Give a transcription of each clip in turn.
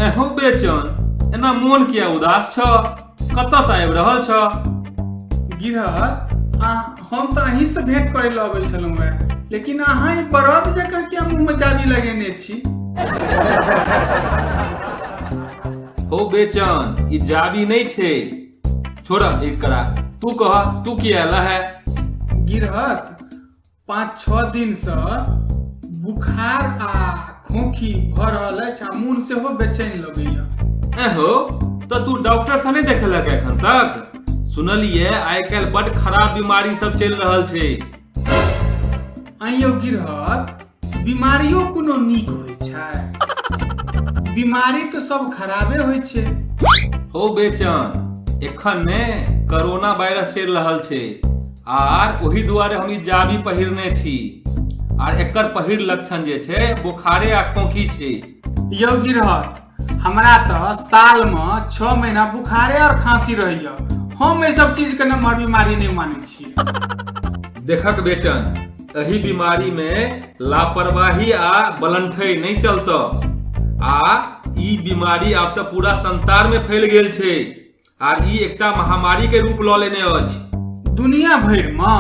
एहो बेचन एना मोन किया उदास छ कतऽ से आबि रहल छ गिरहत आ हम तऽ अहीं से भेंट करे लए अबै छलहुँ हेँ लेकिन अहाँ ई बरद जकाँ किया मुँहमे चाबी लगेने छी हो बेचन ई जाबी नहि छै छोड़ एक करा तू कह तू की आला है गिरहत पाँच छः दिन से बुखार आ खोखी भऽ रहल अछि आ मोन सेहो बेचैन लगैया एहो तो तू डॉक्टर से नहीं देखेलक एखन तक सुनलिए आइ काल्हि बड खराब बीमारी सब चलि रहल छै आइयो गिरहत बीमारियो कोनो नीक होइ छै बीमारी तऽ सब खराबे होइ छै हो बेचन एखन ने कोरोना वायरस चलि रहल छै आर ओही दुआरे हम ई जाबी पहिरने छी आर एकर पहिर लक्षण जे छै बोखारे आ खोखी छै यौ गिरहत हमरा तऽ सालमे छओ महीना बुखारे आओर खाँसी रहैए हम एहि सब चीजके नम्हर बीमारी नहि मानै छी देखक बेचन एहि बीमारी मे लापरवाही आ बलंठै नहि चलत आ ई बीमारी आब तऽ पूरा संसार में फैल गेल छै आर ई एकटा महामारी के रूप लऽ लेने अछि दुनिया भरिमे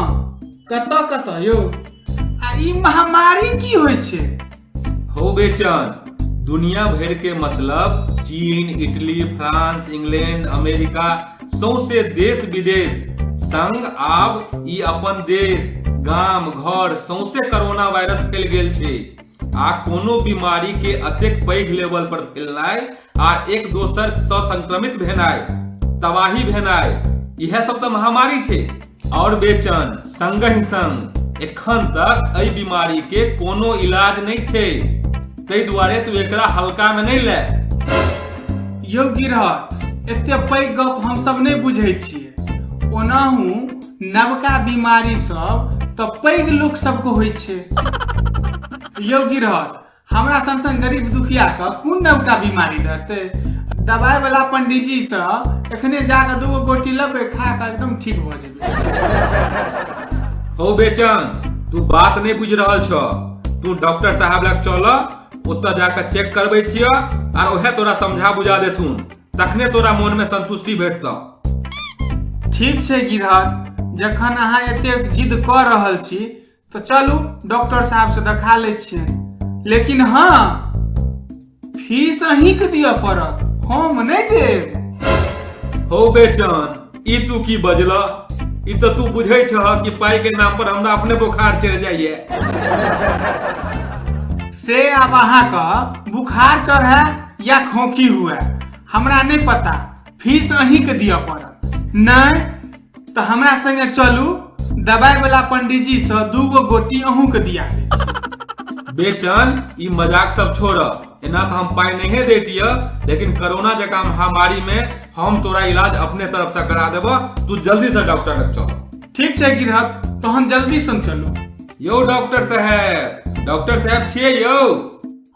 कतऽ कतऽ यौ आ ई महामारी की होइ छै हो बेचन दुनिया भर के मतलब चीन इटली फ्रांस इंग्लैंड अमेरिका सौंसे देश विदेश संग आब ई अपन देश गाम घर सौंसे कोरोना वायरस फैल गेल छै आ कोनो बीमारी के अतेक पैघ लेवल पर फैलनाय आ एक दोसर स संक्रमित भेनाय तबाही भेनाय इहे सब त महामारी छै और बेचन संग ही संग एखन तक एहि बीमारी के कोनो इलाज नहीं छै तै दुआरे तू एकरा हल्का में नहीं ले यौ गिरहर एते पैघ गप हम सब नहीं बुझे छिए ओनाहू नवका बीमारी सब तऽ पैघ लोक सबके होइ छै यौ गिरहर हमरा सन सन गरीब दुखिया के कोन नवका बीमारी धरते दवाई वाला पंडित जी से एखने जाके दूगो गोटी लेबै खा के एकदम ठीक भऽ जेबै हो बेचन तू बात नहीं बुझ रहा छ तू डॉक्टर साहब लग चल ओतऽ जाकर चेक करबे छिय आर ओहे तोरा समझा बुझा देथुन तखने तोरा मोनमे संतुष्टि भेटतौ ठीक छै गिरहत जखन अहाँ एतेक जिद कऽ रहल छी तऽ चलू डॉक्टर साहबसँ देखा लै छियै लेकिन हाँ फीस अहींके दिअ पड़त हम नहि देब हो बेचन ई तू की बजला ई तऽ तू बुझै छह कि पाई के नाम पर हमरा अपने बोखार चढ़ जाइए से अब अहाँ का बुखार चढ़े या खोखी हुए हमरा नहीं पता फीस अहीं के दिया पड़त नहीं तो हमरा संगे चलू दवाई वाला पंडित जी से दूगो गोटी अहूँ के दिया बेचन ई मजाक सब छोड़ एना तऽ हम पाइ नहिए दैतिय लेकिन कोरोना जकाँ महामारीमे हम तोरा इलाज अपने तरफसँ करा देब तू जल्दीसँ डॉक्टर लग चल ठीक छै गिरहत तहन जल्दी सन चलू यौ डॉक्टर साहेब डॉक्टर साहेब छियै यौ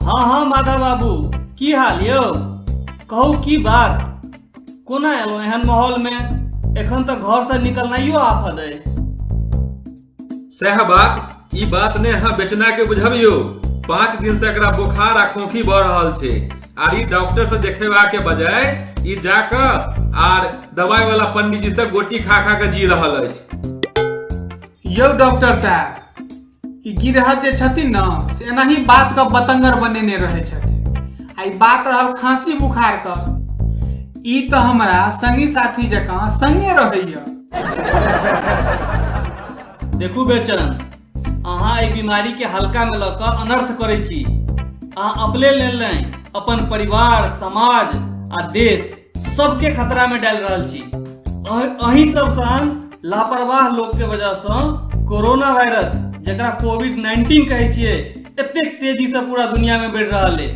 हँ हँ माधव बाबू की हाल यौ कहू की बात कोना एलहुँ एहन माहौलमे एखन तऽ घरसँ निकलनाइयो आफत अइ सएह बात ई बात ने अहाँ बेचना के बुझबियो पाँच दिन से एकरा बोखार आ खोखी बढ़ रहल छै आर ई डॉक्टर से देखेबा के बजाय ई जाके आर दवाई वाला पंडित जी से गोटी खा खा के जी रहल अछि यौ डॉक्टर साहब ई गिरहत जे छथिन ने से एनाही बात के बतंगर बनेने रहै छथिन आ ई बात रहल खांसी बुखार के ई तऽ हमरा संगी साथी जकाँ संगे रहैया देखू बेचन अहाँ एहि बीमारी के हल्का में लऽ कऽ अनर्थ करै छी अहाँ अपने लेल नहि अपन परिवार समाज आ देश सबके खतरा में डाल रहल छी अह- अहीं सब सन लापरवाह लोग के वजह से कोरोना वायरस जकरा कोविड 19 कहै छियै एतेक तेजी से पूरा दुनिया में बढ़ रहा है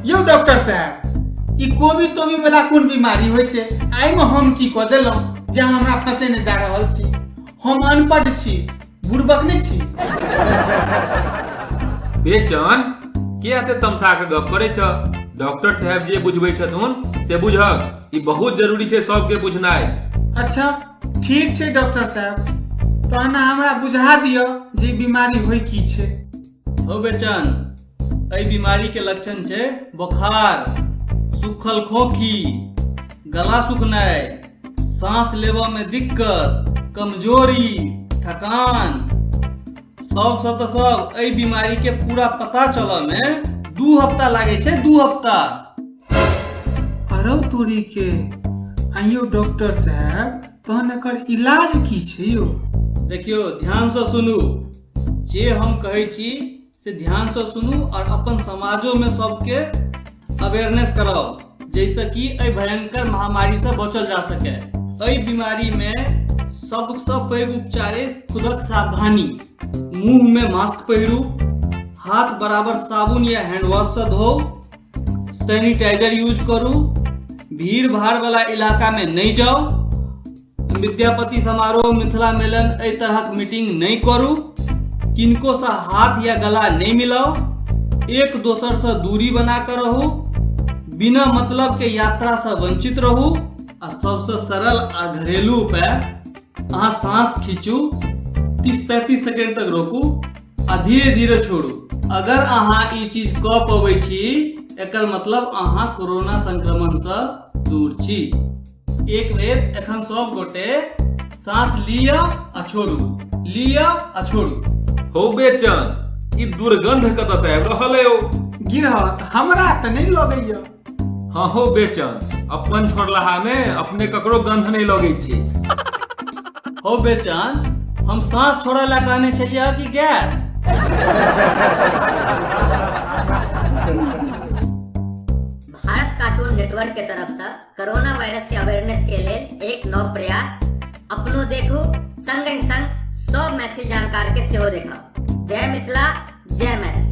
यौ डॉक्टर साहब ई कोबी तोबी वाला कोन बीमारी होइ छै आइ में हम की कऽ देलहुँ जे अहाँ हमरा फँसेने जा रहल छी हम अनपढ़ छी बुड़बक नहि छी बेचन के एते तमसा के गप करे छ डॉक्टर साहब जे बुझबै छथुन से बुझक ई बहुत जरूरी छै सबके बुझनाइ अच्छा ठीक छै डॉक्टर साहब तो अहाँ हमरा बुझा दिअ जे ई बीमारी होइ की छै हो बेचन एहि बीमारी के लक्षण छै बोखार सूखल खोखी गला सुखनाइ सांस लेबऽ में दिक्कत कमजोरी थकान सबसँ तऽ सब एहि बीमारी के पूरा पता चलऽ में दू हफ्ता लागै छै दू हफ्ता अरौ तोरी के आइयो डॉक्टर साहब तहन एकर इलाज की छै यौ देखियौ ध्यानसँ सुनू जे हम कहै छी से ध्यानसँ सुनू आओर अपन समाजोमे सबके अवेयरनेस कराउ जाहिसँ कि एहि भयंकर महामारीसँ बचल जा सकै एहि बीमारीमे सबसँ पैघ उपचार अछि खुदक सावधानी मुंहमे मास्क पहिरू हाथ बराबर साबुन या हैंड वॉशसँ धोउ सैनिटाइजर यूज करू भीड़ भाड़ वाला इलाका में नहीं जाओ विद्यापति समारोह मिथिला मेलन एहि तरहक मीटिंग नहीं करू किनको से हाथ या गला नहीं मिलाओ एक दोसर से दूरी बना कर रहू बिना मतलब के यात्रा से वंचित रहू आ सबसे सरल आ घरेलू उपाय अहाँ सांस खींचू तीस पैंतीस सेकेंड तक रोकू आ धीरे धीरे छोड़ू अगर अहाँ ई चीज कऽ पबै छी एकर मतलब अहाँ कोरोना संक्रमणसँ दूर छी एक बेर एखन सब गोटे साँस लिअ आ छोड़ू लिअ आ छोड़ू हो बेचन ई दुर्गंध कतऽ से आबि रहल है ओ गिरहत हमरा तऽ नहि लगैया हँ हो बेचन अपन छोड़लाहा ने अपने ककरो गंध नहीं लगे छे हो बेचन हम सांस छोड़े ला कहने छलिए कि गैस भारत कार्टून नेटवर्क के तरफ से कोरोना वायरस के अवेयरनेस के लेल एक नव प्रयास अपनो देखू संग ही संग सब मैथिल जानकार के सेहो देखा जय मिथिला जय मैथिल